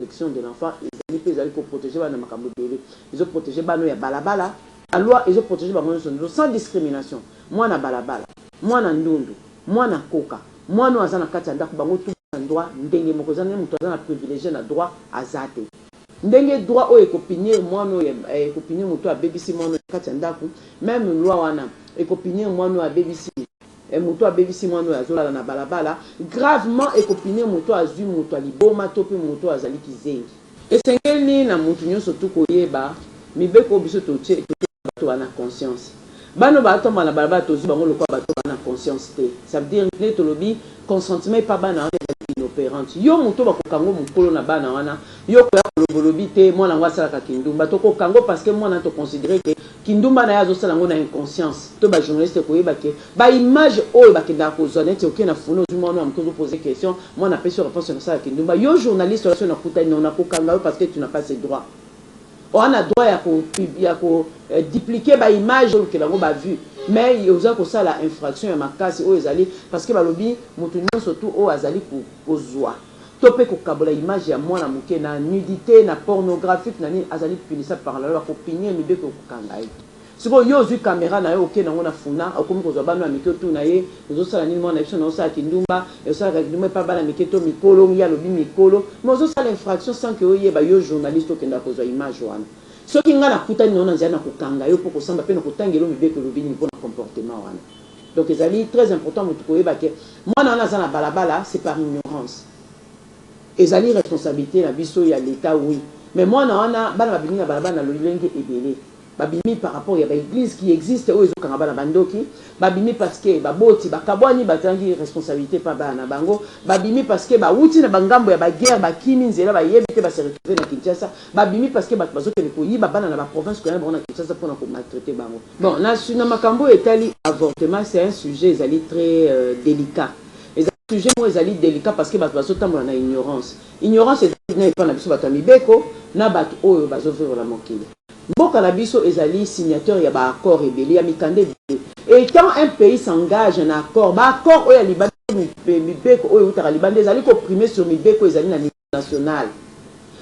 protection de l'enfant ezali pe ezali ko proteger bana na makambo ebele. Ezo proteger bana oyo ya balabala, la loi ezo proteger bango nionso nioso sans discrimination. Mwana balabala, mwana ndundu, mwana koka, mwana oyo aza na kati ya ndaku bango tout baza na droit ndenge moko. Eza ndenge mutu aza na privilegie na droit aza te. Ndenge droit oyo eko punir mwana oyo eko punir mutu oyo abebisi mwana oyo na kati ya ndaku, meme loi wana eko punir mwana oyo abebisi Eh moto abebisi mwana oyo azolala na balabala gravement eko punir moto oyo azui moto ya liboma to pe moto oyo azali kizengi. Esengeli na mutu nyoso tout koyeba mibeko oyo biso totie eko tika batu ba na conscience. Bana oyo bazo tambola na balabala tozui bango lokola batu oyo ba na conscience te ça veut dire nde tolobi consentiment epa bana wana ezali inoperante. Yo mutu oyo bako kanga yo mukolo na bana wana yo okoya koloba olobi te mwana yango asalaka kindumba toko kanga yo parce que mwana to considerer que Kindumba naye azosala yango na inconscience to ba journaliste koyeba ke ba image oyo bakendaka kozua neti oke na funa ozui mua wana ya muke ozo pose question mua na pesi yo reponse na sala kindumba yo journaliste wana soki na kutani nao na kokanga yo parceque tu na pas ce droit oa na droit ya ko ya ko duplique ba image olukela yango ba vue mais oza kosala infraction ya makasi oyo ezali parceque balobi mutu nionso tout oyo azali kozua to pe kokabola image ya mwana moke na nudite, na pornographique, na nini, azali punissable par la loi, bako punir ye, mibeko ekokanga ye. Sikoyo yo ozui camera na yo oke nango na funa, okomi kozua bana oyo ya mike otuna ye, ozosala nini mwana na biso, nayo osala kindumba, mais osalaka kindumba epa bana mike to mikolo, ye alobi mikolo, mais ozo sala infraction sans que oyeba, yo journaliste okendaka kozua image wana, soki nga nakutani na yo na nzela nako kanga yo po okosamba pe nako tangela yo mibeko elobi nini pona comportement wana. Donc ezali très important mutu koyeba ke mwana wana aza na balabala c'est par ignorance. Ezali responsabilite na biso ya l'etat oui mais mwana wana bana babimi na balabala na lolenge ebele. Babimi par rapport ya ba eglises qui existent oyo ezokanga bana ba ndoki, babimi parce que baboti bakabwani bazangi responsabilite epa bana na bango, babimi parce que bawuti na ba ngambo ya ba guerres bakimi nzela bayebi te ba se retrouver na Kinshasa, babimi parce que batu bazokende koyiba bana na ba provinces koya na bango na Kinshasa pona ko maltraiter bango. Bon, na, na makambo oyo etali avortement, c'est un sujet ezali tres delicat. Ezali sujet moko ezali delicat parce que bato bazo tambola na ignorance. Ignorance ezali na epai na biso bato ya mibeko, na bato oyo bazo vivre na mokili. Mboka na biso ezali signateur ya ba accords ebele, ya mikanda ebele. Etant un pays s'engage na accords, ba accords oyo ya libanda, mibeko oyo ewutaka libanda ezali ko primer sur mibeko oyo ezali na mikanda. nationale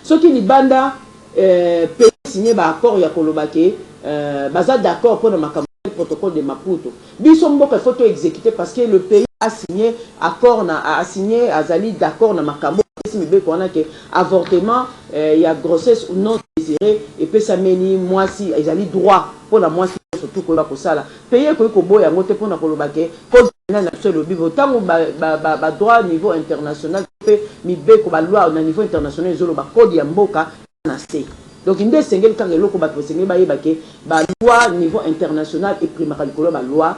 soki libanda eh pays signe ba accord ya koloba ke eh baza d'accord pona makambo tel protocole de maputo biso mboka il faut to executer parce que le pays a signe accord na a signe azali d'accord na makambo apesi mibeko wana ke avortement eh ya grossesse ou non desire epesameli muasi ezali droit pona muasi nionso tout koyeba kosala Pays ekoki koboya yango te pona koloba ke code penal na biso elobi boye tango ba droit niveau international to pe mibeko ba lois na niveau international ezo loba code ya mboka eza na se donc nde esengeli kaka eloko batu basengeli bayeba ke ba lois niveau international e primaka likolo ya ba lois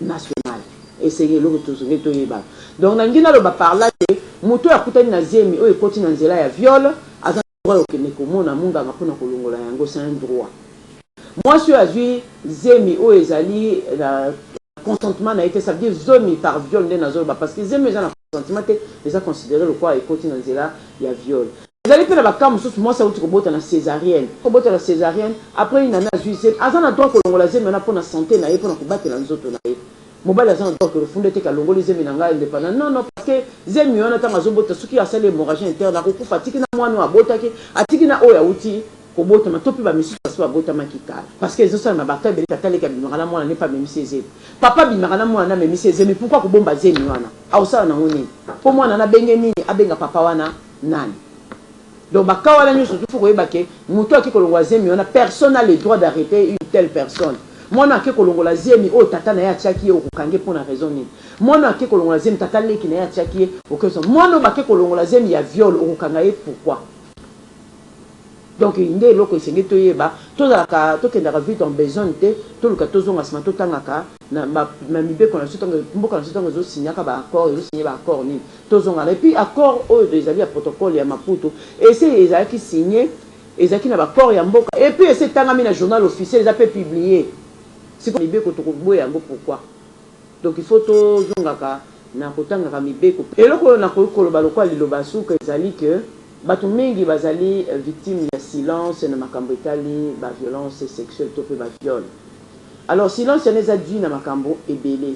national esengeli eloko tosengeli toyeba donc nalingi naloba par là ke mutu oyo akutani na zemi oyo ekoti na nzela ya viol aza Droit ya kokende komona munganga mpo na kolongola yango, c'est un droit. Mwasi oyo azwi zemi oyo ezali na consentement na ye te, ça veut dire zomi par viol nde nazo loba, parce que zemi oyo eza na consentement te eza considerer lokola ekoti na nzela ya viol. Ezali mpe na ba cas mosusu mwasi awuti kobota na cesarienne, kobota na cesarienne, après une annee azwi zemi, aza na droit kolongola zemi wana mpo na sante na ye, mpo na kobatela nzoto na ye. Mobali aza na droit ke lofunda eteke alongoli zemi na nga independant non non parce que zemi wana tango azo bota soki asali hemorragie interne ako kufa atiki na mwana oyo abotaki atiki na oyo awuti ko botama to pe ba misusu basi ba botamaki kala parce que ezo salema ba cas ebele tata leki abimaka na mwana ne pe amemisi ye zemi papa abimaka na mwana ne amemisi ye zemi pourquoi ko bomba zemi wana ako sala nango nini po mwana na benge nini abenga papa wana nani Donc ba cas wana nioso tout faut koyeba ke mutu ake kolongola zemi wana personne n'a le droit d'arreter une telle personne mwana oyo ake kolongola zemi oyo tata naye atiaki ye okokange pona raison nini mwana oyo ake kolongola zemi tata leki naye atiaki ye okoso mwana oyo bake kolongola zemi ya viole okokanga ye pourquoi donc nde eloko esengeli toyeba tozalaka tokendaka vite en besogne te toluka tozonga sima totangaka na ba na mibeko na biso tango mboka na biso tango ezo signaka ba accords ezo signer ba accords nini? Tozonga na et puis accords oyo ezali ya protocole ya Maputo esi ezalaki signe ezalaki na ba accords ya mboka et puis esi etangami na journal officiel eza pe publie sikoyo mibeko toko boya yango pourquoi? Donc il faut to zongaka na ko tangaka mibeko. Eloko oyo na koki koloba lokola liloba ya suka ezali que batu mingi bazali victimes ya silence na makambo etali ba violences sexuelles to pe ba viols. Alors silence wana eza due na makambo ebele,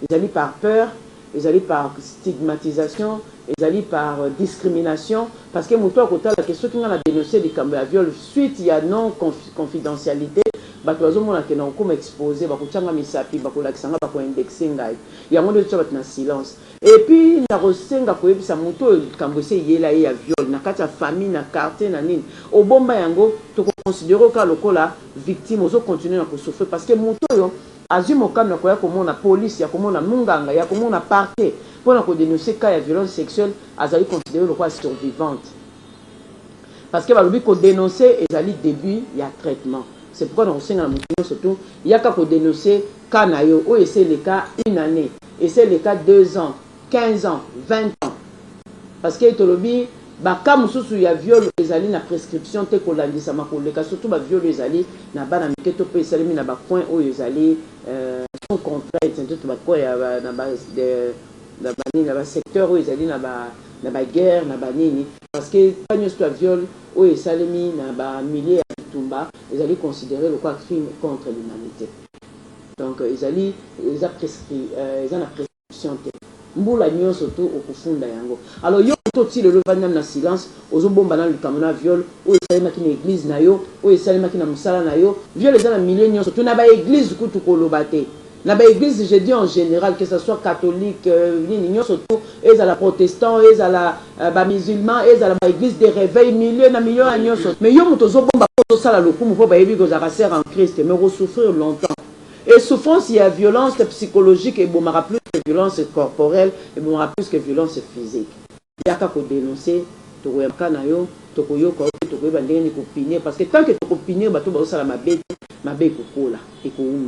ezali par peur, ezali par stigmatisation, ezali par discrimination parce que moto oyo akotala que soki ngai na denoncer likambo ya viol suite ya non confidentialite batu bazomona que nakokoma expose, bakotia ngai misapi, bakolakisa ngai, bako indexer ngai. Yango nde ezo tia batu na silence. Et puis nakosenga koyebisa moto oyo likambo esi eyela ye ya viol na kati ya famille, na quartier, na nini, obomba yango, toko considerer yo kaka lokola. victime ozo continuer na ko souffrir parce que mutu oyo azui mokano ya koya komona police ya komona munganga ya komona parquet pona ko denoncer cas ya violence sexuelle azali considerer lokola survivante parce que balobi ko denoncer ezali debut ya traitement c'est pourquoi nako senga na mutu nionso tout yaka ko denoncer cas nayo oyo esi eleka une annee esi eleka deux ans 15 ans, 20 ans parce que tolobi ba cas mususu ya viol ezali na prescription te kolandisama koleka surtout ba viol oyo ezali na bana mike to pe esalemi na ba coin oyo ezali sans contrainte surtout ba coin ya na ba na ba nini na ba secteur oyo ezali na ba na ba guerre na ba nini parce que cas nionso ya viol oyo esalemi na ba milieu ya bitumba ezali considere lokola crime contre l'humanite donc ezali eza prescrit eza na prescri solution te mbula nionso tu okofunda yango alors yo moto ti lelo ovandi nanu na silence ozo bomba nanu likambo na viol oyo esalemaki na eglise na yo oyo esalemaki na musala na yo viol eza na milieu nionso tu na ba eglise kutu koloba te na ba eglise je dis en general que ça soit catholique nini nionso tu ezala protestant ezala ba musulman ezala ba eglise de reveil milieu na milieu wana nionso mais yo moto ozo bomba po ozo sala lokumu po bayebi que ozalaka soeur en christ mais oko souffrir longtemps Et souffrance ya violence psychologique ebomaka plus que violence corporelle, ebomaka plus que violence physique. Yaka ko denoncer, tokoyamaka na yo, tokoyoka yo mpe tokoyeba ndenge nini ko punir parce que tant que toko punir bato oyo bazosala mabe te, mabe ekokola, ekowumela.